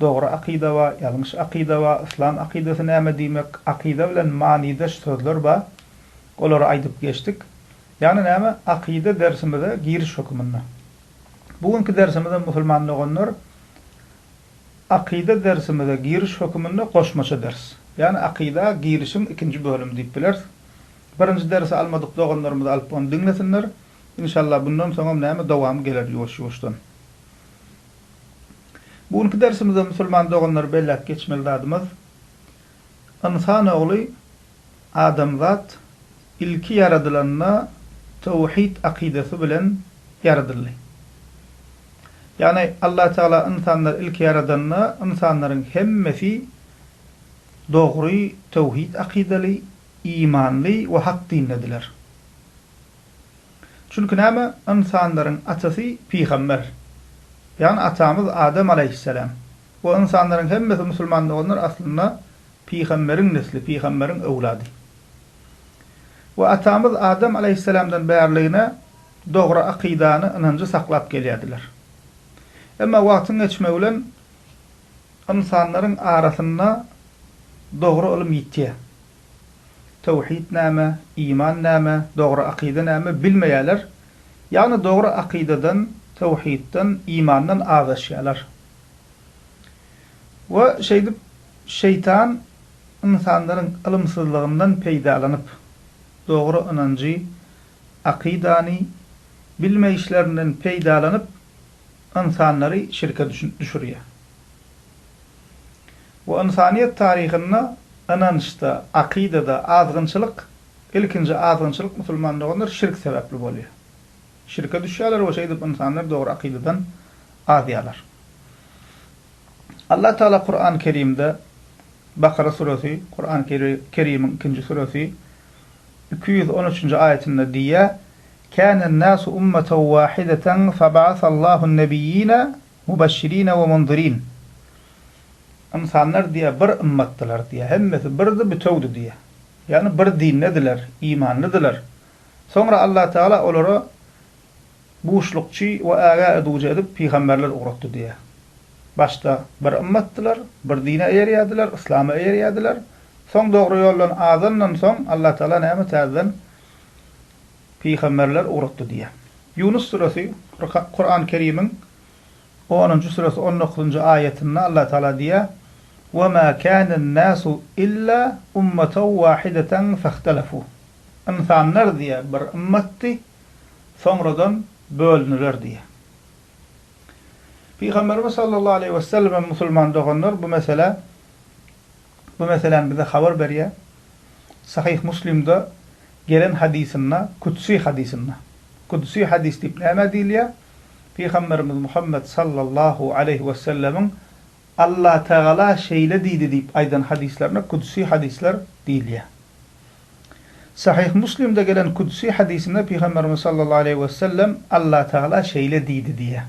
Dogry akyda ba, ýalňyş akyda ba, yslam akydasy näme diýmek, akyda bilen manydaş sözler ba, olary aýdyp geçdik. Ýagny näme, akyda dersimize giriş höküminde. Bu günki dersimizem musulman doganlar akyda dersimize giriş höküminde goşmaça ders. Ýagny akyda girişiň ikinji bölümi diýip bileris. Birinji dersi almadyk doganlarymyz alyp ony diňlesinler. Inşallah bundan soňam näme dowamy geler ýuwaş-ýuwaşdan. Bu günki dersimizde musulman doganlar belläp geçmeli zadymyz ynsan ogly adamzat ilki ýaradylanda töwhid akydasy bilen ýaradyldy. Ýagny Allah Tagala ynsanlar ilki ýaradanda ynsanlaryň hemmesi dogry töwhid akydaly, imanly we hak dindediler. Çünki näme, ynsanlaryň atasy pygamber. Ýagny atamyz Adam alaýhyssalam. We ynsanlaryň hemmesi musulman doganlar aslynda pygamberiň nesli, pygamberiň öwlady. We atamyz Adam alaýhyssalamdan bärligine dogry akydany, ynanjy saklap gelýärdiler. Emma wagtyň geçmegi bilen ynsanlaryň arasynda dogry ylym ýitýär. Töwhit näme, iman näme, dogry akyda näme bilmeýärler. Ýagny dogry akydadan, töwhitden, imandan azaşýarlar. We şeýdip şeýtan ynsanlaryň ylymsyzlygyndan peýdalanyp, dogry ynanjy, akydany, bilmeýişlerinden peýdalanyp, ynsanlary şirke düşürýär. Bu ynsanyýet taryhynda ynançda, akydada azgynçylyk, ilkinji azgynçylyk musulman doganlar şirk sebäpli bolýar. Şirke düşýärler we şeýdip ynsanlar dogry akydadan azýarlar. Allah Taala Kurany Kerimde, Bakara suresi, Kurany Kerimiň ikinji suresi, iki ýüz on üçünji aýatynda diýýär, Kânen nâsu ummeten wâhideten feba'asallahu n-nebiyyîne, Mubeşşirine we munzirin, Ynsanlar diýýär, bir ymmatdylar diýýär, hemmesi birdi, bütewdi diýýär. Ýagny bir dindediler, imanlydylar. Soňra Allah Tagala olara buşlukçy we ägä edujy edip pygamberler ugratdy diýýär. Başda bir ymmatdylar, bir dine eýerýärdiler, yslama eýerýärdiler. Soň dogry ýoldan azandan soň Allah Tagala näme täzeden Pygamberler ugratdy diýýär. Ýunus suresi, Kurany Kerimiň onunjy suresi on dokuzynjy aýatynda Allah Tagala diýýär, Ve ma kanen nasu illa ummaten wahideten fehtelefu. Ynsanlar diýýär, bir ymmatdy, soňradan bölüniler diýýär. Pygamberimiz sallallahu aleýhi wesellem hem musulman doganlar bu meselä, Bu meseläni bize habar berýär. Sahyh Muslimde gelen hadysynda, kütsi hadysynda. Kütsi hadys diýip nämä diýilýär? Pygamberimiz Muhammet sallallahu aleýhi wesellemiň Allatagala şeýle diýdi diýip aýdan hadyslaryna kütsi hadyslar diýilýär. Sahyh Muslimde gelen kütsi hadysynda Pygamberimiz sallallahu aleýhi wesellem Allatagala şeýle diýdi diýýär.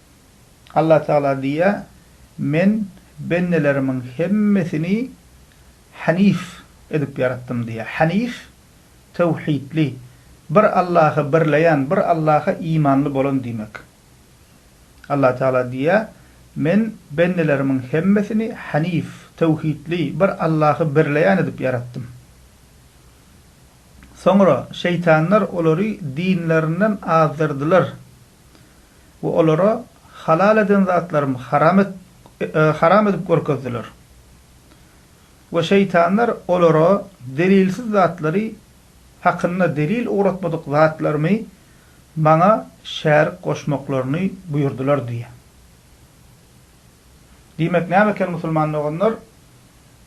Allatagala diýýär, Men bendelerimiň hemmesini hanif edip ýaratdym diýýär. Hanif, töwhidli, bir Allahy birleýän, bir Allaha imanly bolan diýmek. Allatagala diýýär, Men bendelerimiň hemmesini hanif, töwhidli, bir Allahy birleýän edip ýaratdym. Soňra şeýtanlar olary dinlerinden azdyrdylar. we olara halal eden zatlarym haram et haram edip görkezdiler. We şeýtanlar olara delilsiz zatlary hakynda delil ugratmadyk zatlarymy Maňa şärik goşmaklaryny buýurdylar diýýär. Diýmek näme eken musulman doganlar?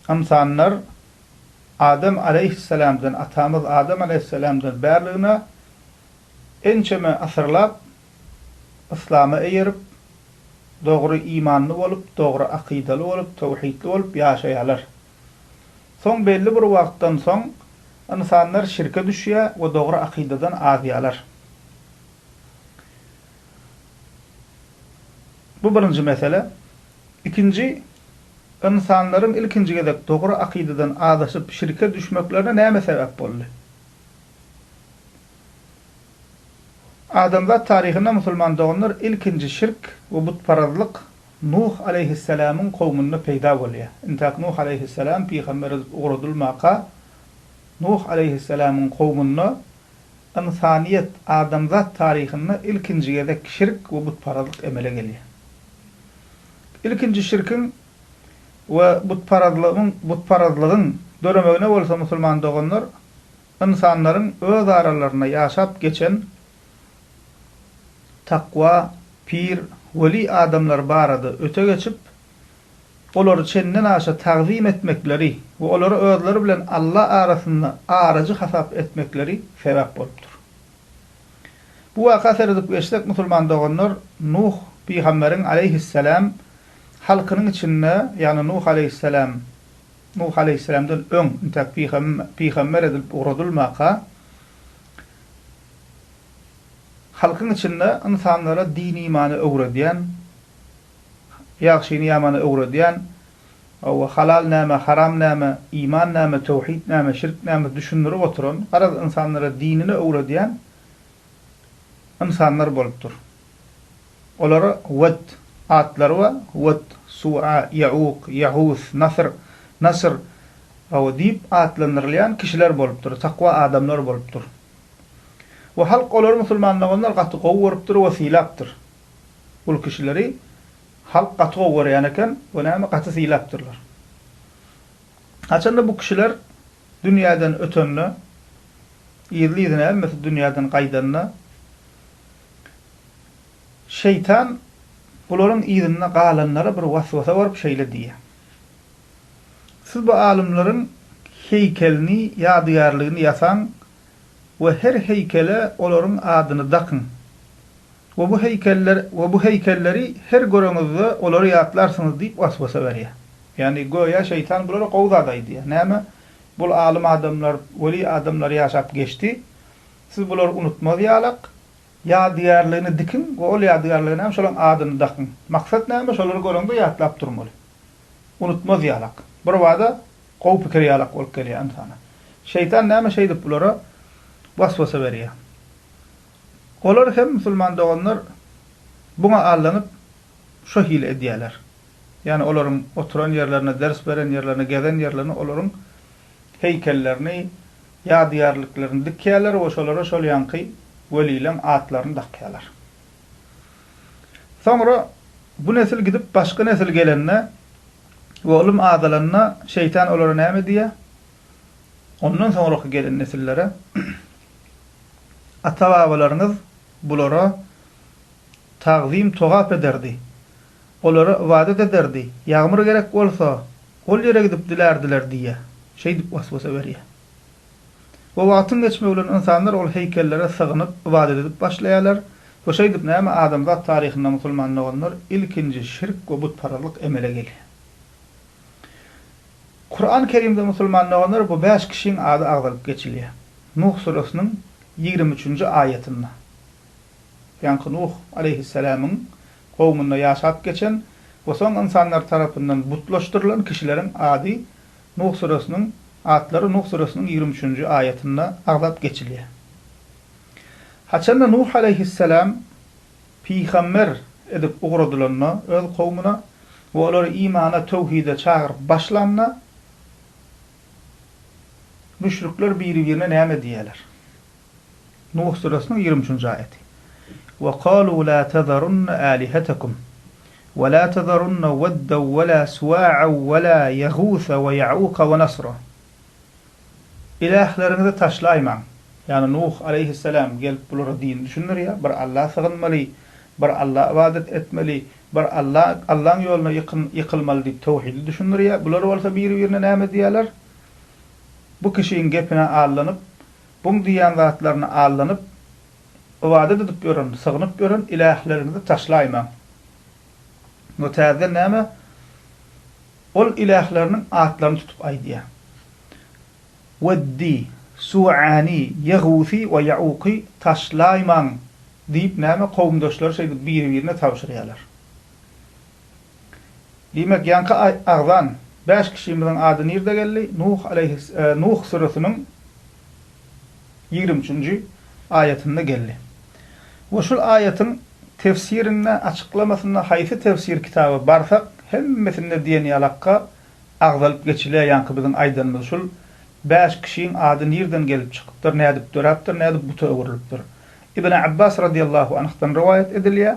Ynsanlar Adam aleýhisselamdan, atamyz Adam aleýhisselamdan bärligine Ençeme asyrlap yslama eýerip, dogry imanly bolup, dogry akydaly bolup, töwhidli bolup ýaşaýarlar. Soň belli bir wagtdan soň ynsanlar şirke düşýär we dogry akydadan azýarlar. Bu birinji mesele. Ikinji, ynsanlaryň ilkinji gezek dogry akydadan azaşyp şirke düşmeklerine näme sebäp boldy? Adamzat taryhynda musulman doganlar ilkinji şirk we butparazlyk Nuh aleýhissalamyň kowmunda peýda bolýar. Intäk Nuh aleýhissalam pygamber edip ugradylmaka Nuh aleýhissalamyň kowmunda ynsanyýet, adamzat taryhynda ilkinji gezek şirk we butparazlyk emele gelýär. Ilkinji şirkiň we butparazlygyň butparazlygyň döremegine bolsa musulman doganlar Ynsanlaryň öz aralarynda ýaşap geçen takwa, pir, weli adamlar barada öte geçip, olary çenden aşa tagzym etmekleri we olary özleri bilen Alla arasynda arajy hasap etmekleri sebäp bolupdyr. Bu waka seredip geçsek musulman doganlar Nuh pygamberiň aleýhisselam halkynyň içinde, ýagny Nuh aleýhisselam, Nuh aleýhissalamdan öň, intäk pygamber edilip ugradylmaka, halkyň içinde ynsanlara din-imany öwredýän, ýagşyny-ýamany öwredýän, hawa, halal näme, haram näme, iman näme, töwhit näme, şirk näme düşündirip oturan, garaz, ynsanlara dinini öwredýän ynsanlar bolupdyr. Olar Wad, atlary we Wad, Suwa, Ýauk, Ýahus, Nasyr, Nasr, Gawa diýip atlandyrylýan kişiler bolupdyr, takwa adamlar bolupdyr. We halk olary musulmanlaganlar gaty gowy görüpdir we sylapdyr. Ol kişileri halk gaty gowy görýän eken we näme gaty sylapdyrlar. Haçanda bu kişiler dünýäden ötende, yzly-yzyna hemmesi dünýäden gaýdanda, Şeýtan bularyň yzynda galanlara bir waswasa berip şeýle diýýär, Siz bu alymlaryň heýkelini, ýadygärligini ýasaň we her heýkele olaryň adyny dakyň we bu heýkeller we bu heýkelleri her göreňizde olary ýatlarsyňyz diýip waswasa berýär. Ýagny, göýä şeýtan bulara gowy zat aýdýar, Näme, bul alym adamlar, weli adamlar ýaşap geçdi, siz bulary unutmaz ýalak, Ýadygärligini dikiň we ol ýadygärlige näme şolaň adyny dakyň. Maksat näme şolary göreňde ýatlap durmaly. Unutmaz ýalak. Birbada gowy pikir ýalak bolup gelýär ynsana. Şeýtan näme şeýdip bulara waswasa berýär. Olar hem musulman doganlar buňa allanyp şo hili edýäler. Ýani olaryň oturan ýerlerine ders beren ýerlerine gezen ýerlerine olaryň heýkellerini Ýadygärliklerini dikýärler we şolara şol ýaňky welileň atlaryny dakýarlar. Soňra bu nesil gidip, başga nesil gelende we ylym azalanda Şeýtan olara näme diýýär? Ondan soňraky gelen nesillere, Ata-babalaryňyz bulara tagzym-togap ederdi. Olara ybadat ederdi. Ýagmyr gerek bolsa, ol ýere gidip dilärdiler diýýä. Şeýdip was-wasa berýär. We wagtyň geçmegi bilen ynsanlar ol heýkellere sygynyp, ybadat edip başlaýarlar we şeýdip näme adamzat taryhynda musulman doganlar ilkinji şirk we butparazlyk emele gelýär. Kuran Kerimde musulman doganlar bu bäş kişiň ady agzalyp geçilýär. Nuh suresynyň ýigrimi üçünji aýatynda. Ýaňky Nuh aleýhisselamyň kowmunda ýaşap geçen we soň ynsanlar tarapyndan butlaşdyrylan kişileriň ady Nuh süresiniň atlary Nuh süresiniň ýigrimi üçünji aýatynda agzap geçilýär. Haçanda Nuh alaýhyssalam pygamber edip ugradylanda öz kowmuna we olary imana, töwhide çagyryp başlanda müşrikler biri-birine näme diýýärler? Nuh süresiniň ýigrimi üçünji aýaty. Wa kalu la tazarunna alihatekum wa la tazarunna wedda wa la suwa'a wa la yagusa wa ya'uka wa nasra. Ilähleriňizi taşlaýmaň. Ýagny Nuh aleýhissalam gelip bulara dini düşündirýär, bir Alla sygynmaly, bir Alla ybadat etmeli, bir Alla, Allaň ýoluna ýykyn, ýykylmaly diýip towhidi düşündirýär. Bular bolsa biri-birine näme diýýärler? Bu kişiň gepine allanyp, Buň diýýän zatlaryna aldanyp, ybadat edip ýören, sygynyp ýören ilähleriňizi taşlaýmaň. Bu täzeden näme? Ol ilähleriniň atlaryny tutup aýdýar. Weddi, Suwani, Ýegusi we Ýauky taşlaýmaň! diýip näme, kowumdaşlary şeýdip biri-birine tabşyrýarlar. Diýmek, ýaňky agzan bäş kişimiziň ady nirde geldi? Nuh aleýhis, Nuh süresiniň ýigrimi üçünji aýatynda geldi. We şul aýatyň tefsirinde, açyklamasynda haýsy tefsir kitaba barsak, hemmesinde diýen ýalakka agzalyp geçilýär ýaňky biziň aýdanymyz şul bäş kişiň ady nirden gelip çykypdyr, nädip döräpdir, nädip buta öwrülipdir? Ibn Abbas radiýallahu anhdan rowaýat edilýär,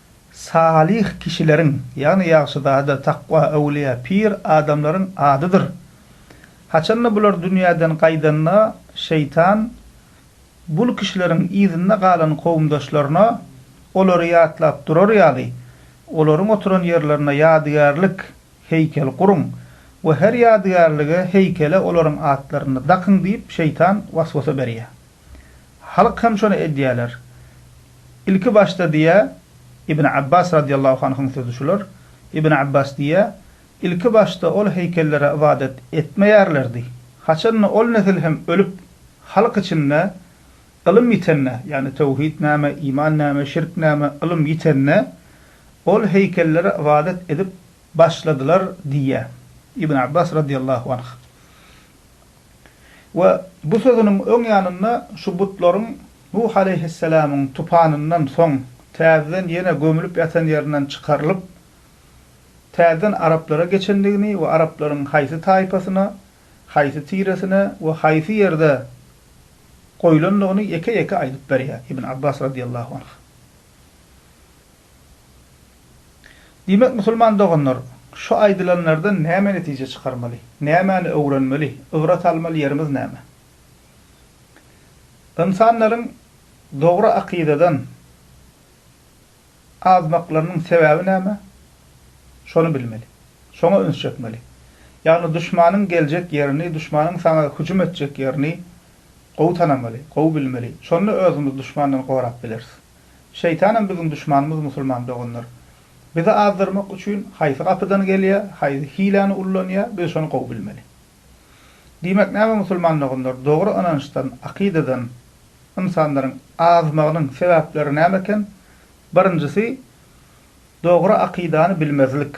Salyh kişileriň, ýagny ýagşyzada, takwa, öwlüýä, pir adamlaryň adydyr. Haçanda bular dünýäden gaýdanda, şeýtan bul kişileriň yzynda galan kowumdaşlaryna olary ýatlap durar ýaly, olaryň oturan ýerlerine ýadygärlik, heýkel, guruň we her ýadygärlige, heýkele olaryň atlaryny dakyň diýip şeýtan waswasa berýär. Halk hem şony edýärler. Ilki başda diýýär, Ibn Abbas radiyallahu anhuň sözi şular, Ibn Abbas diýýär, Ilki başda ol heýkellere ybadat etmeýärlerdi. Haçanda ol nesil hem ölüp, halk içinde ylym ýitende, ýagny töwhid näme, iman näme, şirk näme ylym ýitende, ol heýkellere ybadat edip başladylar diýýär. Ibn Abbas radiyallahu anh. We bu sözüniň öň ýanynda şu butlaryň Nuh aleýhisselamyň tupanyndan soň täzeden ýene gömülip ýatan ýerinden çykarylyp, täzeden araplara geçendigini we araplaryň haýsy taýpasyna, haýsy tiresine we haýsy ýerde goýlandygyny ýeke-ýeke aýdyp berýär Ibn Abbas radiyallahu anh. Diýmek, musulman doganlar, şu aýdylanlardan näme netije çykarmaly? Nämäni öwrenmeli? Ybrat almaly ýerimiz näme? Ynsanlaryň dogry akydadan azmaklarynyň sebäbi näme? Şony bilmeli. Şoňa üns çekmeli. Ýagny duşmanyň geljek ýerini, duşmanyň saňa hüjüm etjek ýerini Gowy tanamaly, gowy bilmeli, şonda özümiz duşmandan gorap bileris. Şeýtanam biziň duşmanymyz musulman doganlar. Bizi azdyrmak üçin haýsy gapydan gelýär, haýsy hiläni ullanýar, biz şony gowy bilmeli. Diýmek näme musulman doganlar, dogry ynançdan, akydadan ynsanlaryň azmagynyň sebäpleri näme eken? Birinjisi, dogry akydany bilmezlik.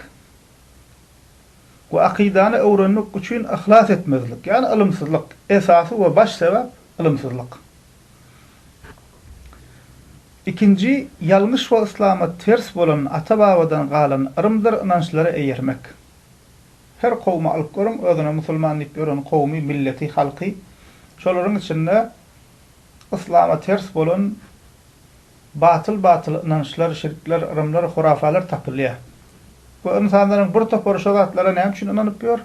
we akydany öwrenmek üçin yhlas etmezlik, ýagny ylymsyzlyk, esasy we baş sebäp ylymsyzlyk. Ikinji, ýalňyş we yslama ters bolan ata-babadan galan yrymdyr ynançlara eýermek. Her kowumy alyp görüň, özüne musulman diýip ýören kowumy, milleti, halky, şolaryň içinde Yslama ters bolan batyl-batyl ynançlar, şirkler, yrymlar, hurafalar tapylýar. Bu ynsanlaryň bir topary şo zatlara näme üçin ynanyp ýör?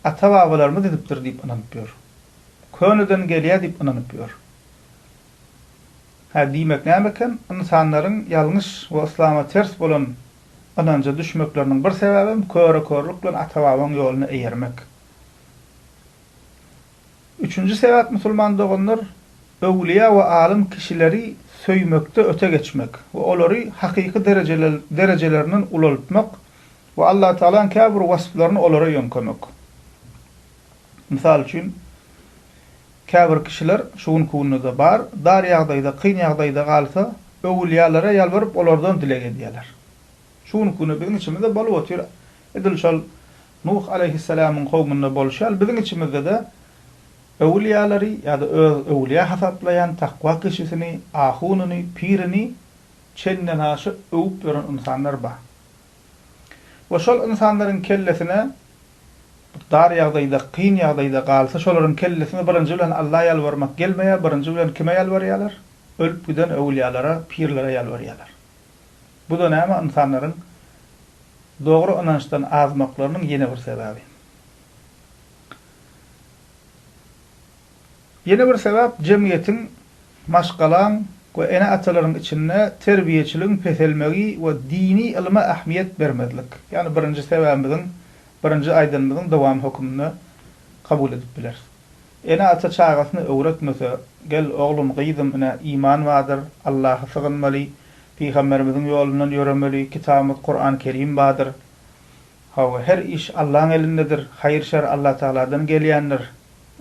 Ata-babalarymyz edipdir diýip ynanyp ýör. Köneden gelýär diýip ynanyp ýör. Hä, diýmek näme eken? Ynsanlaryň ýalňyş we yslama ters bolan ynanja düşmekleriniň bir sebäbem köre-körlük bilen ata-babaň ýoluna eýermek. Üçünji sebäp musulman doganlar öwlüýä we alym kişileri söýmekde öte geçmek we olary hakyky derejelerinden ulaltmak we Allatagalaň käbir wasplaryny olara ýöňkemek. Mysal üçin, käbir kişiler, şu günki günde-de bar, dar ýagdaýda, kyn ýagdaýda galsa, öwlüýälere ýalbaryp, olardan dileg edýärler. Şu günki günde biziň içimizde bolup otyr, edil şol Nuh aleýhissalamyň kowmunda bolşy ýaly biziň içimizde-de öwülýalary ýa-da öz öwülýä hasaplaýan takwa kişisini, ahunyny, pirini çendenaşa öwüp ýören ynsanlar bar. We şol ynsanlaryň kellesine bir dar ýagdaýda, kyn ýagdaýda galsa şolaryň kellesine birinji bilen Alla ýalbarmak gelmeýär, birinji bilen kime ýalbarýarlar? Ölüp giden öwülýalara, pirlere ýalbarýarlar. Bu-da näme ynsanlaryň dogry ynançdan azmaklarynyň ýene bir sebäbi. Ýene bir sebäp jemgyýetiň, maşgalaň we ene-atalaryň içinde terbiýeçiligiň peselmegi we dini ylma ähmiýet bermezlik. Ýagny birinji sebäbimiziň, birinji aýdanymyzyň dowamy höküminde kabul edip bileris. Ene-ata çagasyny öwretmese, gel, oglum, gyzym, ine, iman bardyr, Allaha sygynmaly, pygamberimiziň ýolundan ýöremeli, kitabymyz Kurany Kerim bardyr. Hawa, her iş Allaň elindedir, haýyr-şer Allatagaladan gelýändir.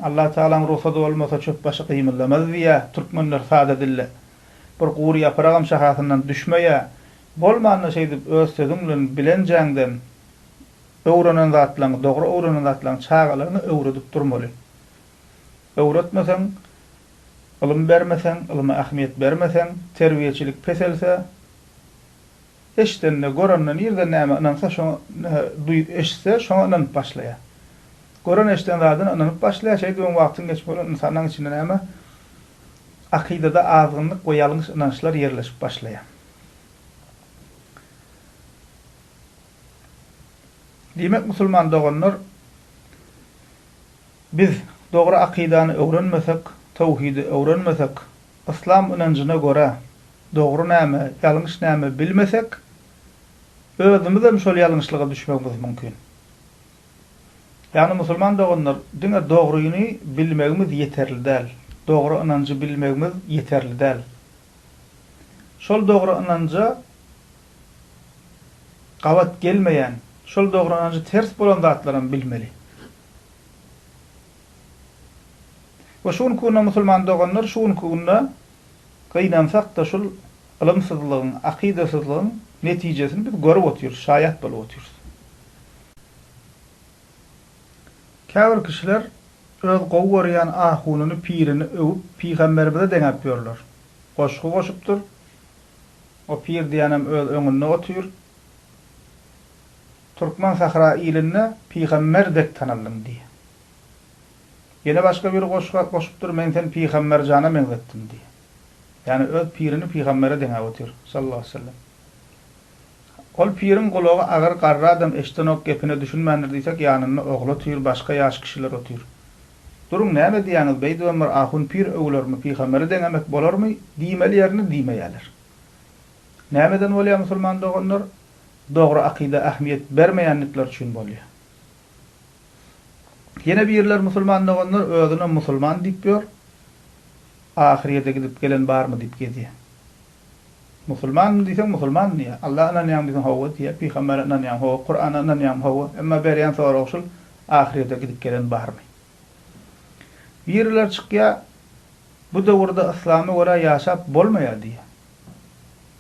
Allatagalaň rugsady bolmasa çöpbaşy gymyldamaz diýýä türkmenler sada dille. Bir gury ýapragam şahasyndan düşmeýä. Bolmanda şeýdip öz sözüň bilen bilenjäňden Öwrenen zatlaryňy, dogry öwrenen zatlaryňy çagalaryňa öwredip durmaly. Öwretmeseň, ylym bermeseň, ylyma ähmiýet bermeseň, terbiýeçilik peselse, eşidende, görende, nireden nämä ynansa şoňa, nähä duý, eşitse şoňa ynanyp başlaýar. Gören-eşiden zadyna ynanyp başlaýar, şeýdibem wagtyň geçip bolan ynsanlaryň içinde näme, akydada azgynlyk we ýalňyş ynançlar ýerleşip başlaýar. Diýmek musulman doganlar biz dogry akydany öwrenmesek, towhidi öwrenmesek, yslam ynanjyna görä dogry näme, ýalňyş näme bilmesek özümizem şol ýalňyşlyga düşmegimiz mümkin. Ýagny musulman doganlar diňe dogryny bilmegimiz ýeterli däl, dogry ynanjy bilmegimiz ýeterli däl. Şol dogry ynanja Gabat gelmeýän, şol dogranajy ters bolan zatlaram bilmeli. We şu günki günde musulman doganlar şu günki günde gynansakda şul ylymsyzlygyň, akydasyzlygyň netijesini biz görüp otyrys, şaýat bolup otyrys. Käbir kişiler öz gowy görýän ahunyny, pirini öwüp pygamberimize deňäp ýörler. Goşgy goşupdyr, O pir diýenem öz öňünde otyr. Türkmen sahra ilinde pygamber dek tanaldyň diýýär. Ýene başga biri goşga goşupdyr, men seni pygamber jana meňzetdim diýýär. Ýani öz pirini pygambere deňäp otyr, sallallahu aleyhi sellem. Ol piriň gulagy agyr, garry adam eşidenok gepine düşünmändir diýsek ýanynda ogly otyr, başga ýaş kişiler otyr. Duruň, näme diýýäňiz, beýdip hem bir ahun pir öwülermi, pygamere deňemek bolarmy, diýmeli ýerini diýmeýäler. Nämeden bolýar musulman doganlar, dogry akyda ähmiýet bermeýändikleri üçin bolýar. Ýene birler musulman doganlar özüne musulman diýip ýör, ahyryýede gidip gelen barmy diýip gezýär. Musulmanmyn diýseň musulmanmyn diýýär. Allaha ynanýaňmy diýseň hawa diýýär. Pygambere ynanýaňmy hawa, Kurana ynanýaňmy hawa. Emma berýän soragy şul, ahyrýete gidip gelen barmy? Biriler çykýar, bu döwürde yslama görä ýaşap bolmaýar diýýär.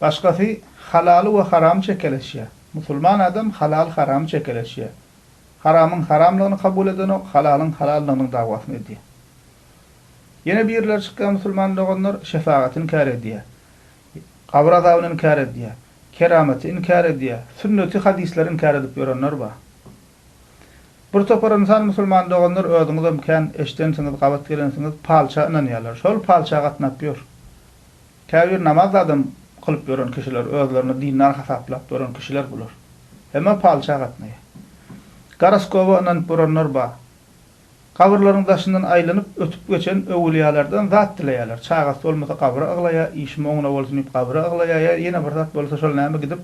Başgasy halaly we haramy çekeleşýär. Musulman adam halaly haramy çekeleşýär. Haramyň haramlygyny kabul edenok, halalyň halallygynyň dawasyny edýär. Ýene birileri çykýar musulman doganlar şefagaty inkär edýär. Gabyr azabyny inkär edýär. Keramaty inkär edýär. Sünneti hadyslar inkär edip ýörenler bar. Bir topar ynsan musulman doganlar özüňizem kän eşdensiňiz gabat gelensiňiz palça ynanýarlar. Şol palça gatnap ýör. Käbir namaz adam kylyp ýören kişiler özlerini dindar hasaplap ýören kişiler bular. Hemme palça gatnaýar. Goroskoba ynanyp ýörenler bar. Gabyrlaryň daşyndan aýlanyp, ötüp geçen öwülýalardan zat dileýärler. Çagasy bolmasa gabyra yglaýa, işi moňuna bolsun diýip gabyra yglaýa ýa ýene bir zat bolsa şol näme gidip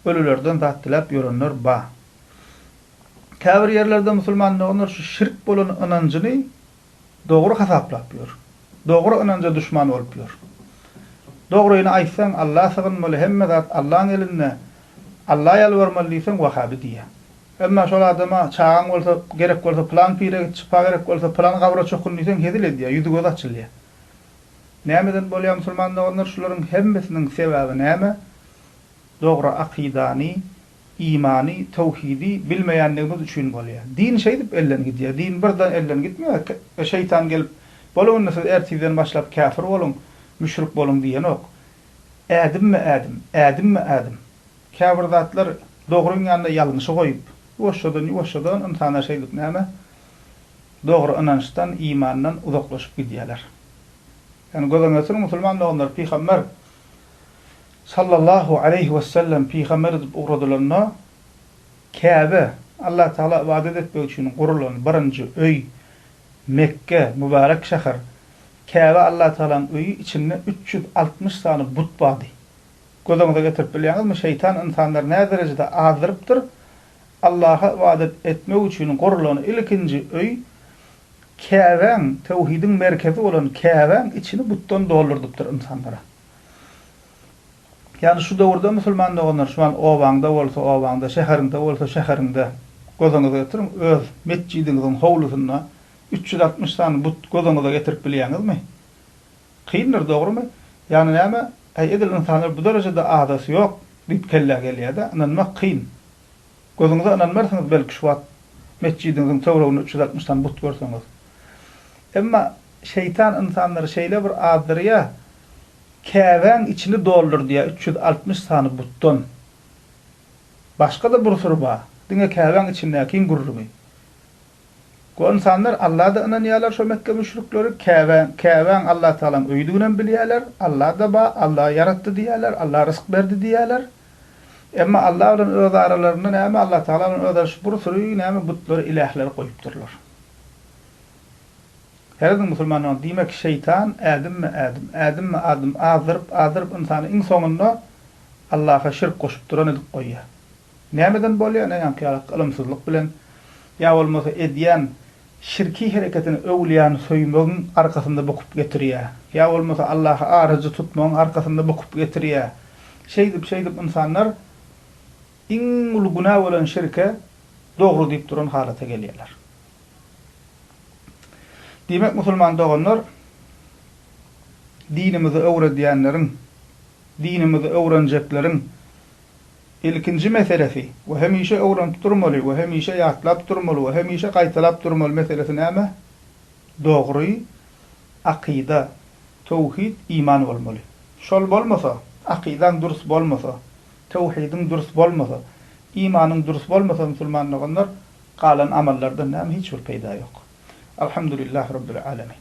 ölülerden zat diläp ýörenler ba. Käbir ýerlerde musulman doganlar şu şirk bolan ynanjyny dogry hasaplap ýör. Dogry ynanja duşman bolup ýör. Dogryny aýtsaň Alla sygynmaly hemme zat Allaň elinde Alla ýalbarmaly diýseň wahabi diýýä. Emma şol adama, Çagaň bolsa, gerek bolsa pylan pire git, şypa gerek bolsa, pylan gabra çokun diýseň hezil edýär, ýüzi-gözi açylýar. Nämeden bolýar musulman doganlar, şularyň hemmesiniň sebäbi näme? Dogry akydany, imany, towhidi bilmeýänligimiz üçin bolýar. Din şeýdip elden gidýär. Din birden elden gitmeýär. Şeýtan gelip, Boluň indi siz ertirden başlap käpir boluň, müşrik boluň diýenok. Ädimmi-ädim, ädimmi-ädim. Käbir zatlar dogryň ýanynda ýalňyşy goýup, ýuwaşjadan-ýuwaşjadan ynsanlar şeýdip näme, dogry ynançdan, imandan uzaklaşyp gidýärler. Ýagny göz öňüne sürüň, musulman doganlar, pygamber sallallahu aleýhi wesellem pygamber edip ugradylanda, Käbe, Allah Tagala ybadat etmek üçin gurulan birinji öý, Mekge, mübärek şäher, Käbe Allah Tagalaň öýi, içinde üç ýüz altmyş sany but bardy. Göz öňüňize getirip bilýäňizmi, şeýtan ynsanlary näderejede azdyrypdyr? Allaha ybadat etmek üçin gurlan ilkinji öý Käbäň, töwhidiň merkezi bolan Käbäň içini butdan doldurdypdyr ynsanlara. Ýagny şu döwürde musulman doganlar şu wagt obaňda bolsa obaňda, şäheriňde bolsa şäheriňde göz öňüňize getiriň, öz metjidiňiziň howlusynda üç ýüz altmyş sany but göz öňüňize getirip bilýäňizmi? Kyndyr dogrymy? Ýagny näme? Äý edil ynsanlar bu derejede azasy ýok diýip kellä gelýädä, ynanmak kyn. Gözüňize ynanmarsyňyz belki şu wagt metjidiňiziň töwreginde üç ýüz altmyş sany but görseňiz. Emma şeýtan ynsanlary şeýle bir azdyrýa, Käbäň içini doldurdýa üç ýüz altmyş sany butdan. Başga-da bir syr bar, diňe Käbäň içindäkiň gürrüňi. Ol ynsanlar Alla-da ynanýarlar şo Mekge müşrikleri, Käbä, Käbäň Allatagalaň öýüdiginem bilýärler, Alla-da bar, Alla ýaratdy diýýärler, Alla rysk berdi diýýärler. Emma Alla bilen öz aralarynda näme Allatagala bilen özaraş bir süri näme butlary, ilähleri goýupdyrlar. Serediň musulmanlaryň, diýmek şeýtan ädimme ädim, ädimme adym azdyryp, azdyryp ynsany iň soňunda Allaha şirk goşup duran edip goýýar. Nämeden bolýar ne ýaňky ýalak ylymsyzlyk bilen ýa bolmasa edýän şirki hereketini öwlýany söýmegiň arkasynda bukup getirýär. Ýa bolmasa Allaha aryjy tutmagyň arkasynda bukup getirýär. Şeýdip şeýdip ynsanlar iň uly günä bolan şirke dogry diýip duran halata gelýärler. Diýmek musulman doganlar dinimizi öwredýänleriň dinimizi öwrenjekleriň ilkinji meselesi we hemişe öwrenip durmaly we hemişe ýatlap durmaly we hemişe gaýtalap durmaly meselesi näme? Dogry akyda, töwhid, iman bolmaly. Şol bolmasa, akydaň dürs bolmasa, töwhidiň dürs bolmasa, imanyň dürs bolmasa musulman doganlar, galan amallardan näme hiç bir peýda ýok. Alhamdulillah Rabbil Alemin.